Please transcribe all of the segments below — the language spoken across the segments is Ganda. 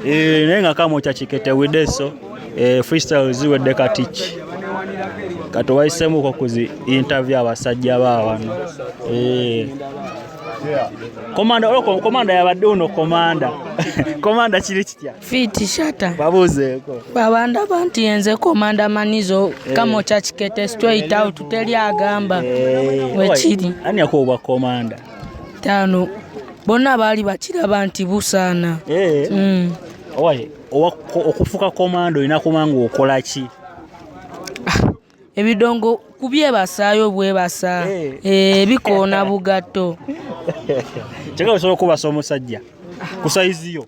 Eh, naye nga kama okyakikete wideso eh, freestyle ziwedde katiki kati wayisemuko kuzi interview abasajja baawano eh. komanda olwo komanda yabadde uno komanda komanda kiri kitya fiti shata babuuzeeko babanda banti yenze komanda manizo eh. kama okyakikete straight out teri agamba wekiri ani yakuwa obwa komanda taano bonna baali bakiraba nti busaana eh. mm. owaye okufuka komando olina kuba nga okola ki ah, ebidongo kubyebasaayo bwebasa eh. Eh, bikoona bugatto kyeka osobola okubasa omusajja ku sayizi yo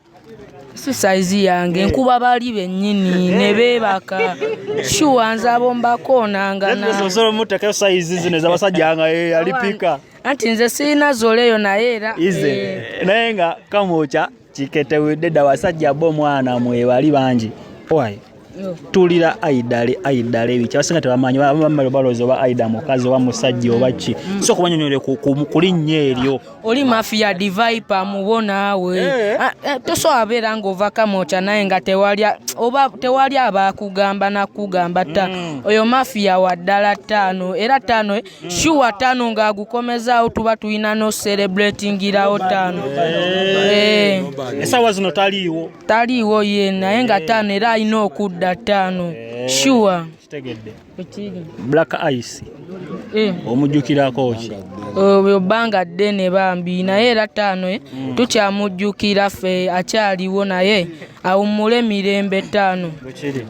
si sayizi yange nkuba bali bennyini ne beebaka shuwa nze abombakoonangana osobola omuteekayo sayizi zino ezabasajja nga alipika anti nze sirina zoleyo naye era ize eh. naye nga kamwokya kiketewedde dda wasajja bo omwana mwebali bangi owaye tulira aidale aidale biki abasinga tebamanyi bamala balooza oba aida mukazi oba musajja oba ki mm. so kubanyonyole ku linnya eryo oli mafia divipa mubo naawe eh. ah, eh, tosobola abeera ng'ova kamokya naye nga tewali abakugamba nakugamba ta mm. oyo mafia wa ddala ttaano era ttaano eh, shuwa tano nga agukomezaawo tuba tulina no celebratingirawo tano eh. esawa zino taliiwo taliiwo ye naye nga eh. tano era alina okudda tano eh. shuwa black ice omujjukirako ki obyo bbanga ddene bambi naye era taano mm. tukyamujjukira ffe akyaliwo naye awummule mirembe taano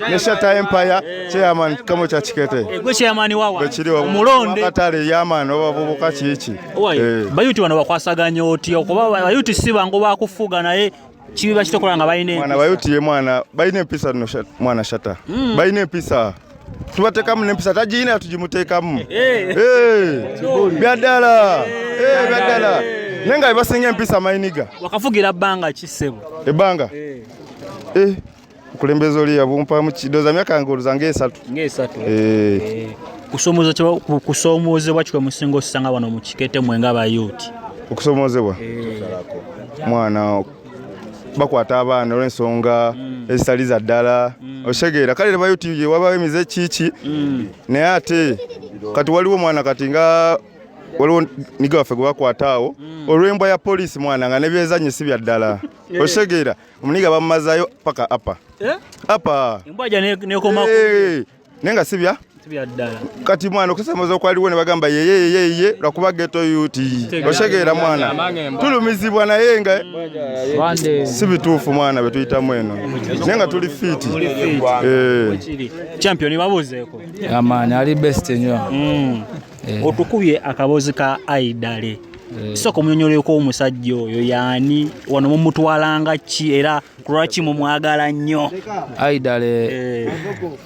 ne Shatta Empire eh. chairman kamo cha Kikete eh, gwe chairman wawa gwe kiri wawa mulonde katale yaman oba bubuka kiki eh. bayuti wano bakwasaganya oti okuba bayuti si bangu bakufuga naye kibi bakitokola nga balina mwana bayuti ye mwana balina empisa no mwana Shatta mm. balina empisa tubatekamu nempisa tagiina tugimutekamu eh. byaddala byaddala naye nga bebasinga empisa mayiniga wakafugira bbanga ki ssebo ebbanga okulembeza oli yabumpamu kidoza myaka nga oluza ngaesatu ngaesatu eh. eh. kusoomoozebwa kikwe musinga osanga wano mu kikete mwe nga bayuuti okusoomoozebwa eh. mwana bakwata abaana olwensonga mm. ezitali za ddala mm. osegeera kale lebayuti wabawo emize kiki mm. naye ate kati waliwo omwana kati nga waliwo niga waffe gwe bakwata awo olwembwa ya poliisi mwana nga nebyezanyo si bya ddala osegeera Omuniga bamumazayo paka apa. Eh? Apa. Embwaja ne ne koma. Eh. Nenga sibya. Sibya dala. Kati mwana okusamaza okwaliwo ne bagamba ye ye ye ye lwakuba geto yuti. Oshegeera mwana. Tulumizibwa na yenga. Bande. Sibitufu mwana betuyita mweno. Nenga tuli fit. Eh. Champion babuze ko. Amani ali best nyo. Mm. eh. otukubye akaboozi ka aidale eh. sooka omunyonyoleko omusajja oyo yaani wano mumutwalanga ki era kulwaki mumwagala nnyo aidale eh.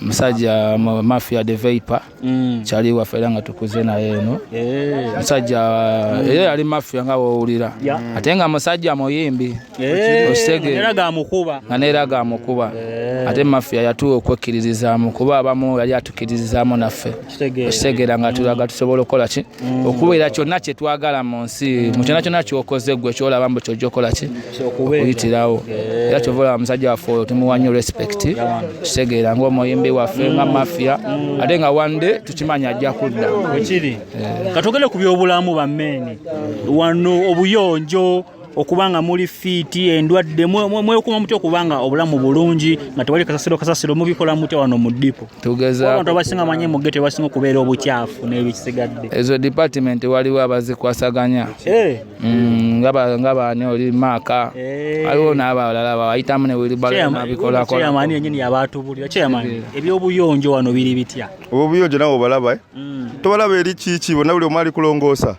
musajja mafia de veipa mm. kyali waffe era nga tukuze naye eno musajja mm. era yali mafia nga wowulira ate nga musajja muyimbi okitegeera nga neera gamukuba ate mafia yatuwa okwekkiririzaamu kuba abamu yali atukkiririzaamu naffe okitegeera nga tulaga tusobola okukola ki mm. okubeera kyonna kyetwagala mu nsi mu kyona kyona kyokoze gwe kyolaba mbu kyojja okukola ki okuyitirawo era kyova olaba musajja waffe oyo tumuwa nnyo respect kitegeera ngaomuyimbi waffe nga mm. mafia mm. ate nga one day tukimanya ajja kudda wekiri eh. katugende ku byobulamu bammeeni wano obuyonjo okuba nga muli fiiti endwadde mwekuma mutya okuba nga obulamu bulungi nga tewali kasasiro kasasiro mubikola mutya wano mu dipo tugezabantu abasinga manye muge tebasinga okubeera obukyafu n'ebisigadde ezo department waliwo abazikwasaganya eh. mm, nga baani oli maaka eh. waliwo n'abalala bawayitamu newilibalabikolakolaamani yenyini yabatubulira kyeyamani eh. ebyobuyonjo wano biri bitya obuyonjo nawe obalaba mm. tobalaba eri kiki bona buli omu ali kulongoosa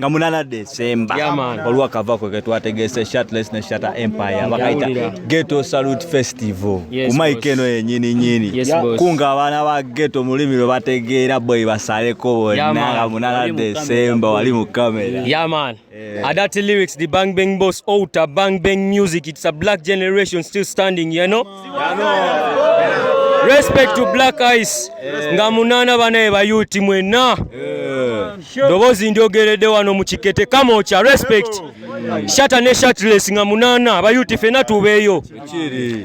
nga munana Desemba waliwo kavako ketwategese shirtless ne shatter empire bakaita ghetto salute festival yes, kumaika eno yenyini nyini yes, kunga abaana ba ghetto mulimi lwe bategeera boy basaleko bonna nga munana Desemba wali mu kamera yeah, man. Yeah. Adati lyrics the bang bang boss outer bang bang music it's a black generation still standing you know Respect to Black Ice eh. nga munana banaye bayuti mwena eh. dobozi ndyogeredde wano mu kikete kamocha respect shata ne shatless nga munana bayuti fena tubeeyo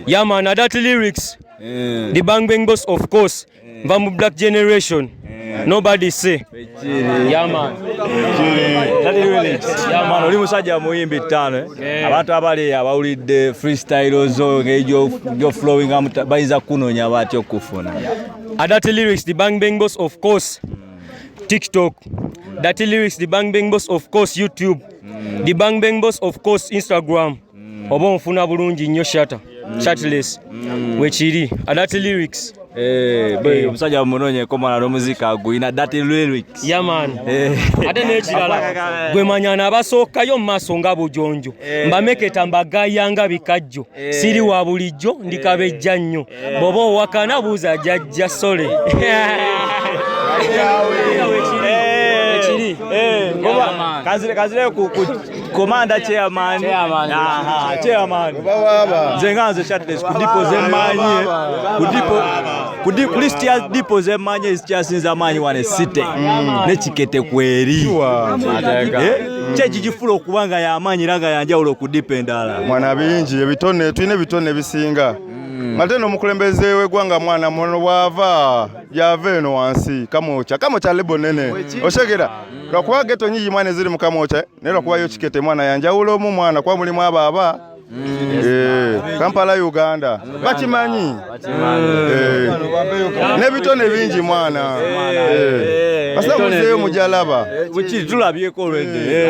yamana that lyrics eh. the bang bang boss of course Eh. Nva mu black generation. Eh. Nobody say. Yeah man. That is really. Yeah man, oli musajja muyimbi ttano. Eh? Abantu abali abawulidde freestyle ozo ngejo jo flowing am bayinza kunonya batyo kufuna. Adati lyrics the bang bang boss of course. TikTok. Dati lyrics the bang bang boss of course YouTube. Mm. The bang bang boss of course Instagram. mm. oba onfuna bulungi nnyo shata mm. chatless mm. wekiri adati lyrics eh, eh. omusajja munonye komala nomuzika guyina dati lyrics yaman eh. ate nekirala gwemanya nabasookayo mumaaso nga bujonjo mbameketa mbagayanga bikajjo siri wa bulijjo ndikabejja nnyo eh. bwoba owakana buuza jajja sole kazireyo komanda chairman aha chairman nze nga nze chatles ku dipo zemanyi ku dipo ku dipo list ya dipo zemanyi ezikyasinza amaanyi wano esite mm. ne kikete kweri eh? kyekigifula okuba nga yamaanyi era nga yanjawulo ku dipo endala mwana bingi ebitone tulina ebitone ebisinga Mm. Ate n'omukulembeze w'eggwanga mwana muno bw'ava gy'ava eno wansi kamwokya kamwokya lebo nene oshegera mm. lwakuba geto nyingi mwana eziri mu kamwokya naye lwakuba yo kikete mwana yanjawula omu mwana kuba mulimu abo aba mm. eh, kampala uganda bakimanyi eh. n'ebitone bingi mwana eh. basa muzeeyo mujalaba tulabyeko olwedde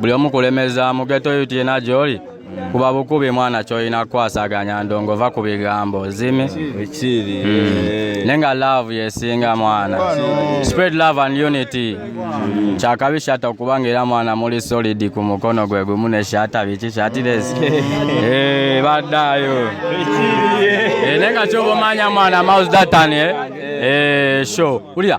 buli omu kulemeza mu geto yuti yena gyoli kuba bukubi mwana kyolina kukwasaganya ndongo va ku bigambo zimi mm. ne nga love yesinga mwana spread love and unity kyakabi shata okubanga era mwana muli solid ku mukono gwe gumu ne shata biki shatiresi eh, baddayo eh, ne nga kyoba omanya mwana mouse datanie eh, show ulira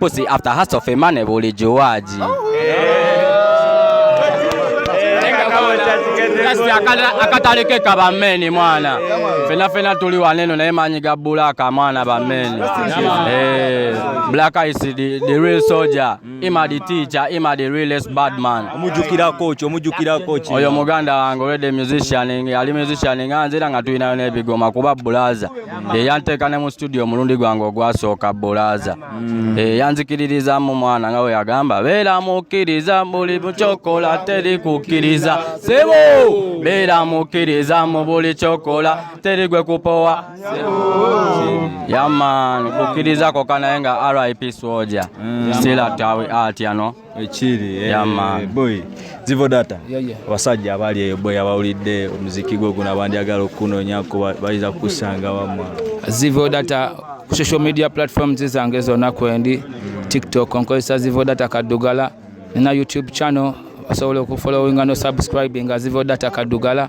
Pussy after hustle for money bulijuaji. akatalekeka bameni mwana fena fena tuli waneno naye manyi ga bulaka mwana bameni eh, black is the, the real soldier mm. ima the teacher ima the realest bad man omujukira coach omujukira coach oyo muganda wange wede musician ali musician nga nzira nga tulinayo nebigoma kuba bulaza eyanteeka ne mu situdiyo omulundi gwange ogwasooka bulaaza mm. eyanzikiririzamu eh, mwana nga weyagamba beera mukkiriza buli kyokola teri kukkiriza sebo beera mukkiriza mu buli kyokola teri gwe kupowa yaman kukkiriza koka naye nga rip swoja mm. sila tawi atyano ekiri eh, yama eh, boy zivo data abasajja abali eyo boy abawulidde omuziki gwo guno abandyagala okukunonyako bayinza kukusanga wamwe zivo data ku social media platforms zange zonna kwendi tiktok nkozesa zivo data kaddugala nina youtube channel osobola okufolowinga no subscribinga zivo data kaddugala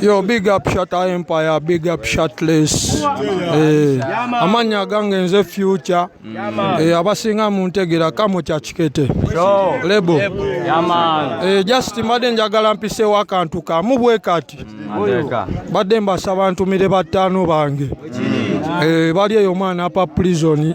Yo, big up shot empire, big up shotless. Eh, amanya gange nze future. Eh, abasinga muntegera kamo kya kikete. Lebo. Eh, just mbadde njagala mpiseewo akantu kamu bwe kati. Mbadde mbasaba ntumire battaano bange. Eh, bali eyo mwana apa prison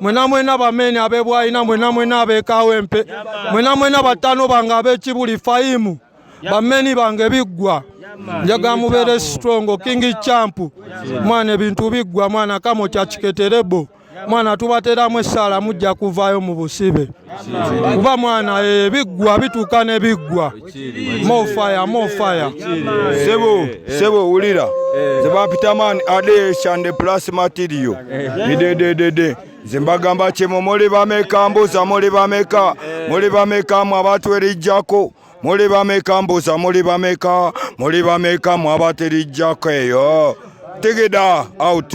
mwena mwena bamene abebwaina mwena mwena abekawempe mwena mwena batano bange abekibuli fayimu bameni bange biggwa njaga mubeere strongo kingi campu mwana ebintu biggwa mwana kamo kyakiketerebo mwana tubateramu essaala mujja kuvaayo mu busibe kuba mwana ebiggwa eh, bituuka ne biggwa More fire, more fire. Sebo, sebo ulira. The Bapitaman Ade Shande Plus Material. De de de de. Zimbagamba chemo mole bameka mbuza mole bameka. Mole bameka mwa watu elijako. Mole bameka mbuza mole bameka. Mole bameka mwa watu elijako yo. Take it out.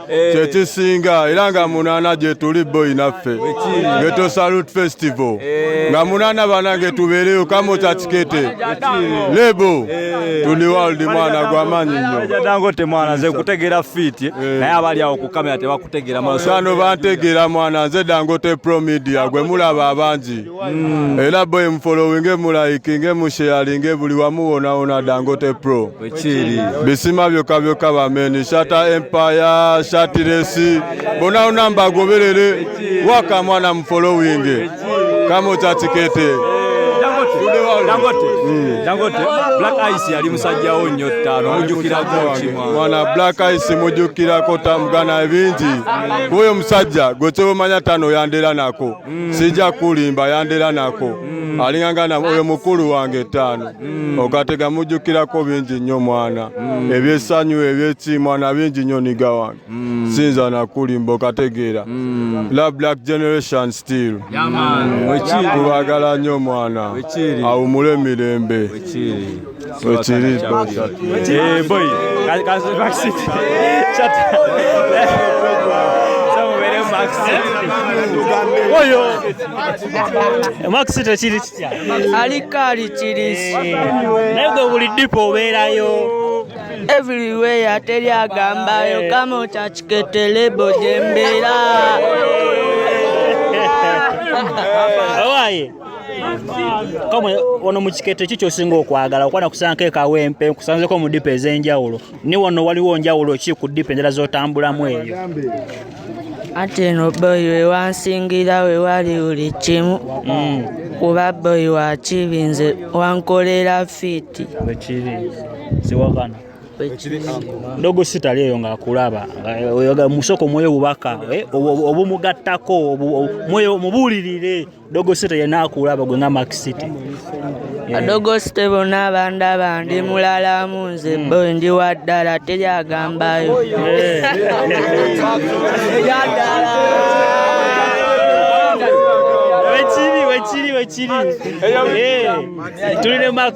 Eh. kyekisinga era nga munana gyetuli boyi naffe geto salut festival eh. nga munana banange tubeereyo kamo kyakikete lebo eh. tuli waldi mwana gwamanyi nyodangote mwana nze kutegeera fiti naye abali awo kukamera tebakutegeera masano bantegeera mwana nze dangote promedia gwe mulaba abangi Mm. Ela boy mfollowinge mulayikinge musheyalinge buli wamu wona wona Dangote Pro ekiri bisima byokka byokka bameni shata empire shatiresi bona wona mbagoberere waka mwana mfollowinge kamo kyatikete Dangote mm. Black Ice yali musajja wo nnyo ttaano mujjukirako kimwa mwana Black Ice mujjukirako tamugana ebingi kuyo musajja gwe kyobomanya ttaano yandera nako mm. sija kulimba yandera nako mm. alinganga na oyo mukulu wange etaano mm. ogatega mujukirako bingi nnyo mwana mm. ebyesanyu ebyeki mwana bingi nnyo niga wange mm. sinza nakulimba okategeera mm. la black generation still kubagala nnyo mwana awumule mirembe Wekiri boy. Eh boy. Kazi vaccine. Chat. Oyo. Maxi tekiri kitya. Alikali kirisi. Naye gwe buli dipo obeerayo. everywhere teri agambayo kama okyakiketele bojembera awaye kamwe wano mu kikete ki kyosinga okwagala okuba nakusanko ekawempe nkusanzeko mu dipa ez'enjawulo ni wano waliwo njawulo ki ku dipa endala z'otambulamu eyo ate eno boyi wewansingira wewali buli kimu mm. kuba boyi wakibi nze wankolera fiiti wekiri siwakana ndogo sitali eyo ng'akulaba musoko mwoyo bubaka eh, obumugattako mwoyo mubuulirire Dogo City yena akulaba gwe nga Max City. Yeah. Dogo City bona abandi abandi mm. mulala munze mm. boy ndi wa ddala teri agambayo. Wekiri wekiri wekiri. Tuli ne Max.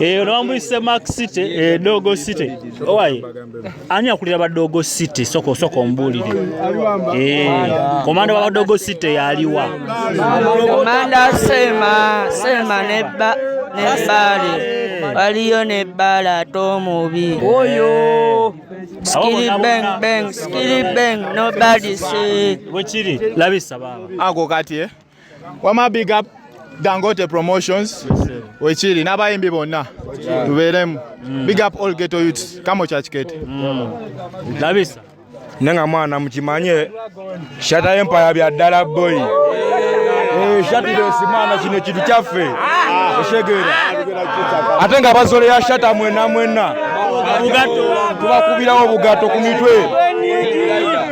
eyo nobambuyise mark city eh, dogo city owaye ani akulira badogo city soko soko mbulire eh, komanda wa badogo city yaliwa komanda sema sema neba nebali waliyo ne bbaala ate omubi oyo skili bang bang skili bang nobody see bwekiri labisa baaba ako kati eh? wama big up dangote promotions wekiri n'abayimbi bonna tubeeremu mm. big up all ghetto youths kamo kyakikete mm. labisa ne nga mwana mukimanye shata empaya bya ddala boy eh, shatidesi mwana kino ekintu kyaffe ah. oshegera ate nga bazole ya shata mwena mwena tubakubirawo obugato ku mitwe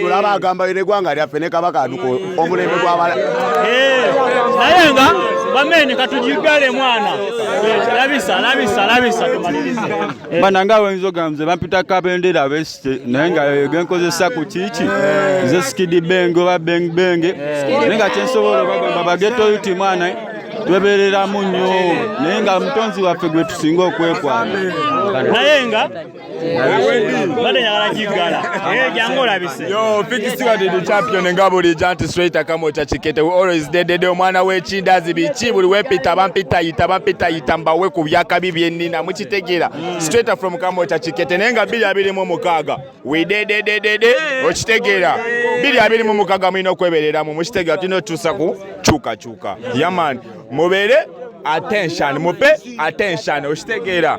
tulaba agamba ere gwanga lyaffe ne kabaka aduka omulembe gwabala eh, naye nga bamene katujigale mwana eh, labisa labisa labisa tumalirize eh. bana nga wenzo gamze bampita kabendera beste naye nga genkozesa ku kiki nze skidi benge oba beng benge naye nga kyensobola bagamba bageto yuti mwana twebereramu nnyo naye nga mutonzi waffe gwe tusinga okwekwana naye nga Bade yagala kigala. Eh jangu olabise. Yo fix you are the champion nga buli janti straight kama cha chikete we always dead dead omwana we chindazi bichi buli we pita bampita yita bampita yita mbawe ku byaka bibye nina muchitegera mm. straight from kama cha chikete nenga bili abili mu mukaga we dead dead dead dead ochitegera bili abili mu mukaga mwino kweberera mu muchitegera tino tusaku chuka chuka yaman mubere attention mupe attention ochitegera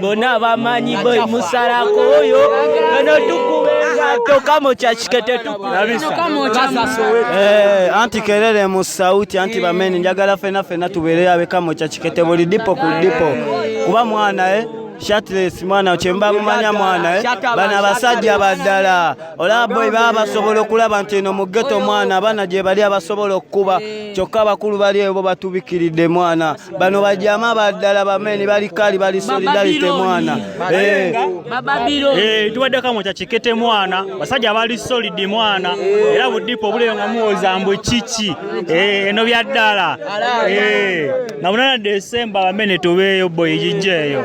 bona bamanyi boy musalako oyo eno tukubenga toka mu kyakikete eh, anti kerere mu sauti anti bameni njagala fena fena tubeere abeka mu kyakikete buli dipo ku dipo kuba mwana eh Shatless mwana kyemba mumanya mwana eh? bana abasajja baddala olaba boy baba basobola okulaba nti eno mu ghetto mwana abana gye bali abasobola okukuba eh. kyokka abakulu bali ebo batubikiridde mwana bano bajama baddala bameni bali kali bali solidarity mwana eh. eh, tubaddeko mu kyakikete mwana basajja abali solidi mwana era budipo obuleyo nga muwoza mbu kiki eh, eno bya ddala nga munana desemba bamene tubeeyo boyi gijjeeyo